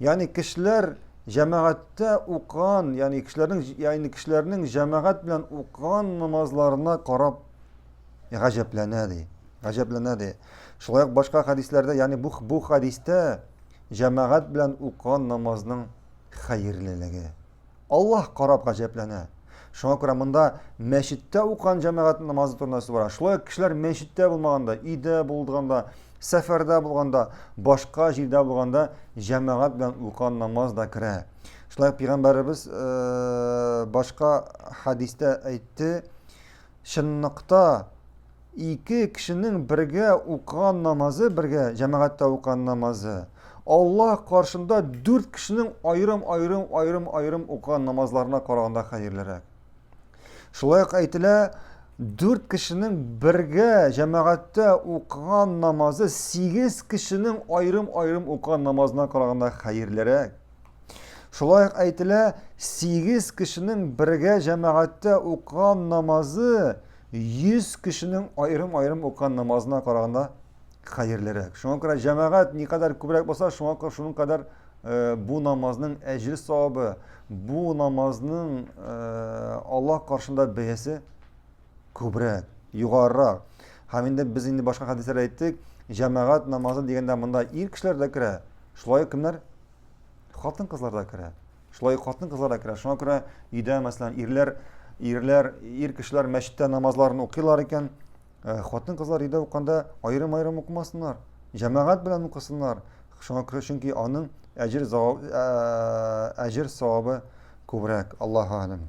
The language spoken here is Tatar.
Ягъни кешеләр җәмәгатьтә укыган, ягъни кешеләрнең ягъни кешеләрнең җәмәгать белән укыган намазларына карап гаҗәпләнә ди. Гаҗәпләнә ди. Шулай ук башка хәдисләрдә, ягъни бу бу хәдистә җәмәгать белән укыган намазның хәерлелеге, Аллаһ карап гаҗәпләнә. Шуңа күрә монда мәчеттә укыган җәмәгать намазы турында сүз бара. Шулай ук кешеләр мәчеттә булмаганда, өйдә булганда, сәфәрдә булганда, башка җирдә булганда җәмәгать белән укыган намаз да керә. Шулай ук пәйгамбәребез э, башка хәдистә әйтте, чынлыкта Ике кешенең бергә укыган намазы, бергә җәмәгатьтә укыган намазы, Аллаһ каршында дүрт кешенең аерым-аерым, аерым-аерым укыган намазларына караганда хәерлерәк. Шулай ук әйтелә, дүрт кешенең бергә җәмәгатьтә укыган намазы сигез кешенең аерым-аерым укыган намазына караганда хәерлерәк. Шулай ук әйтелә, 8 кешенең бергә җәмәгатьтә укыган намазы 100 кешенең аерым-аерым укыган намазына караганда хәерлерәк. Шуңа күрә җәмәгать никадәр күбрәк булса, шуңа күрә шуның кадәр э, бу намазның әҗер савабы, бу намазның э, Аллаһ каршында бәясе Күбрәк, югарырак. Һәм инде без инде башка хәдисләрдә әйттек, җәмәгать намазы дигәндә монда ир кешеләр дә керә. Шулай ук кемнәр? Хатын-кызлар да керә. Шулай ук хатын-кызлар да керә. Шуңа күрә өйдә, мәсәлән, ирләр, ирләр, ир кешеләр мәчеттә намазларын укыйлар икән, э, хатын-кызлар өйдә укканда аерым-аерым укымасыннар. Җәмәгать белән укысыннар. Шуңа күрә чөнки аның әҗер э, әҗер савабы күбрәк. Аллаһу алим.